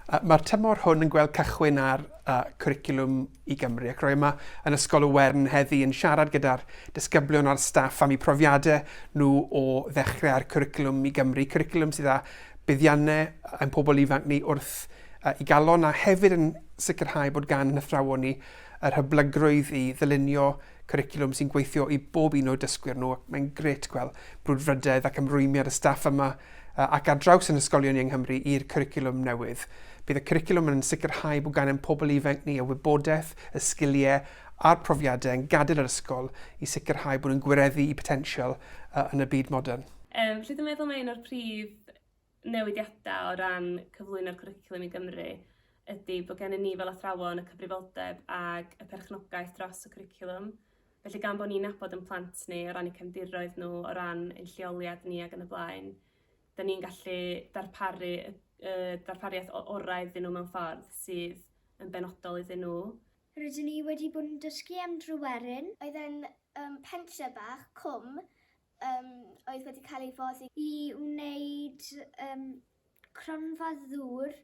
Mae'r tymor hwn yn gweld cychwyn ar Cwricwlwm i Gymru ac rwy yma yn Ysgol y Wern heddi yn siarad gyda'r disgyblion a'r staff am eu profiadau nhw o ddechrau'r Cwricwlwm i Gymru, cwricwlwm sydd â buddiannau ein pobl ifanc ni wrth i galon a hefyd yn sicrhau bod gan ein hathrawon ni yr hyblygrwydd i ddylunio Cwricwlwm sy'n gweithio i bob un o'u dysgwyr nhw ac mae'n grêt gweld brwdfrydedd ac ymrwymiad y staff yma ac ar draws yn ysgolion ni yng Nghymru i'r cwricwlwm newydd. Bydd y cwricwlwm yn sicrhau bod gan ein pobl ifanc ni y wybodaeth, y sgiliau a'r profiadau yn gadael yr ysgol i sicrhau bod nhw'n gwireddu eu potensial yn y byd modern. Yym, rydw i'n meddwl mai un o'r prif newidiadau o ran cyflwyno'r cwricwlwm i Gymru ydy bod gennym ni fel athrawon y cyfrifoldeb ag y perchnogaeth dros y cwricwlwm. Felly gan bod ni'n nabod yn plant ni o ran y cefndiroedd nhw, o ran ein lleoliad ni ac yn y blaen, da ni'n gallu darparu y, y darpariaeth orau iddyn nhw mewn ffordd sydd yn benodol iddyn nhw. Rydyn ni wedi bod yn dysgu am Dryweryn. Oedd e'n um, pentre bach, cwm, Yym, oedd wedi cael ei foddi. I wneud yym cronfa ddŵr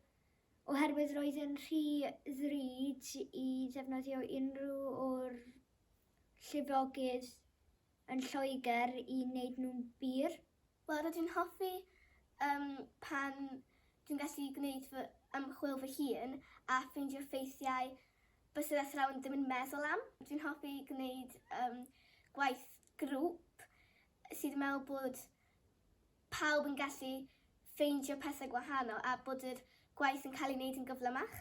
oherwydd roedd yn rhy ddrud i ddefnyddio unrhyw o'r llifogydd yn Lloegr i wneud nhw'n bur. Wel, rydw i'n hoffi yym pan dwi'n gallu gwneud fy ymchwil fy hun a ffeindio ffeithiau byswn athrawon ddim yn meddwl am. Dwi'n hoffi gwneud um, gwaith grŵp sydd yn meddwl bod pawb yn gallu ffeindio pethau gwahanol a bod yr gwaith yn cael ei wneud yn gyflymach.